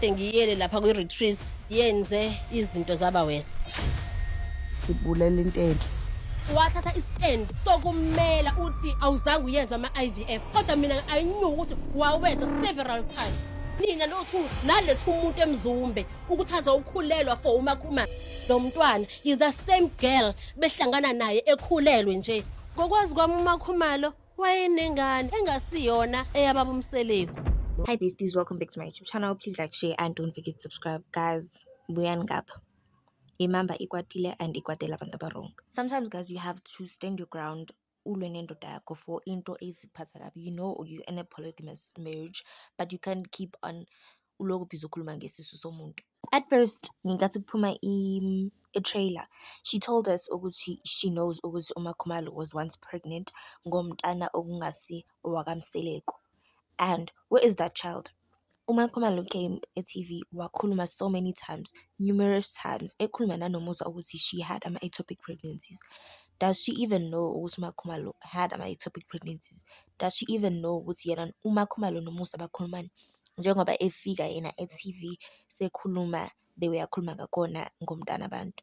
Sengiyele lapha kwi retreat yenze izinto zaba worse. Sibulela into enhle. wathatha istand sokumela uthi awuzange uyenza ama-ivf kodwa mina i knew ukuthi wawenza several times nina nothu nalethi umuntu emzumbe ukuthi azowukhulelwa for umakhumana lo mntwana is the same girl behlangana naye ekhulelwe nje ngokwazi kwami umakhumalo wayenengane engasiyona eyababa umseleku hi besties welcome back to my youtube channel please like share and don't forget to subscribe guys buyani ngapha imamba ikwatile and ikwatela abantu abarong sometimes guys you have to stand your ground ulwe nendoda yakho for into eziphatha kabi you know you're in a polygamous marriage but you can't keep on uloku busy ukhuluma ngesisu somuntu. At first ngenkathi kuphuma i-trailer she told us ukuthi she knows ukuthi uMaKhumalo was once pregnant ngomntana okungasi owakaMseleku and where is that child? UMaKhumalo came e-T_V wakhuluma so many times, numerous times ekhuluma nanoMusa ukuthi she had ama-ectopic pregnancies. Does she even know ukuthi uMaKhumalo had ama-ectopic pregnancies? Does she even know ukuthi yena uMaKhumalo noMusa bakhulumani? njengoba efika yena e-T_V sekhuluma the way akhuluma ngakhona ngomntanabantu.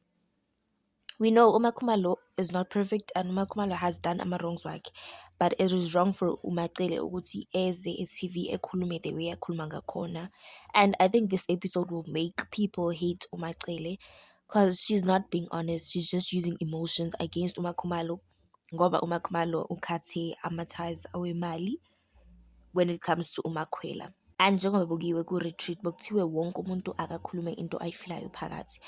We know uMakhumalo is not perfect and uMakhumalo has done ama-wrongs wakhe but it is wrong for umaCele ukuthi eze e-T_V ekhulume the way akhuluma ngakhona and I think this episode will make people hate umaCele cause she's not being honest, she's just using emotions against uMakhumalo ngoba uMakhumalo ukhathe ama-ties awemali. when it comes to uMakhwela. And njengoba kuyiwe ku-retreat bekuthiwe wonke umuntu akakhulume into ayifilayo phakathi.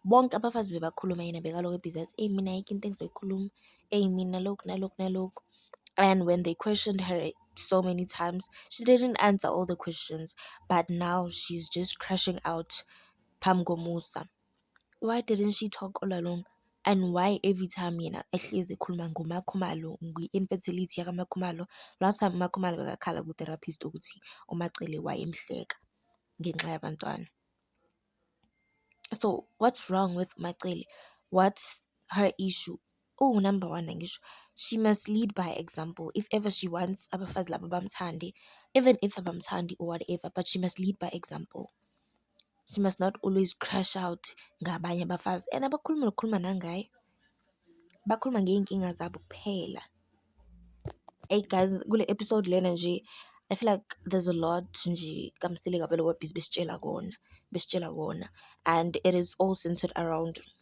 Bonke abafazi bebakhuluma yena bekalokhu ebhizi athi, eyi mina ayikho into engizoyikhuluma, eyi mina lokhu nalokhu nalokhu. And when they questioned her so many times, she didn't answer all the questions, but now she's just crashing out phambi komusa. why didn't she talk all along and why every time yena ehlezi ekhuluma ngoMaKhumalo ngwi-infertility yakaMaKhumalo. Last time uMaKhumalo bekakhala ku-therapist ukuthi uMaCele wayemhleka ngenxa yabantwana. So what's wrong with Macele? What's her issue? uwu number one angisho she must lead by example if ever she wants abafazi laba bamthande even if abamthandi or whatever but she must lead by example. She must not always crash out ngabanye abafazi and abakhuluma nokukhuluma nangaye bakhuluma ngey'nkinga zabo kuphela. Eyi guys kule episode lena nje I feel like there's a lot nje kamsile kabi lokho besitshela kona besitshela kona and it is all centered around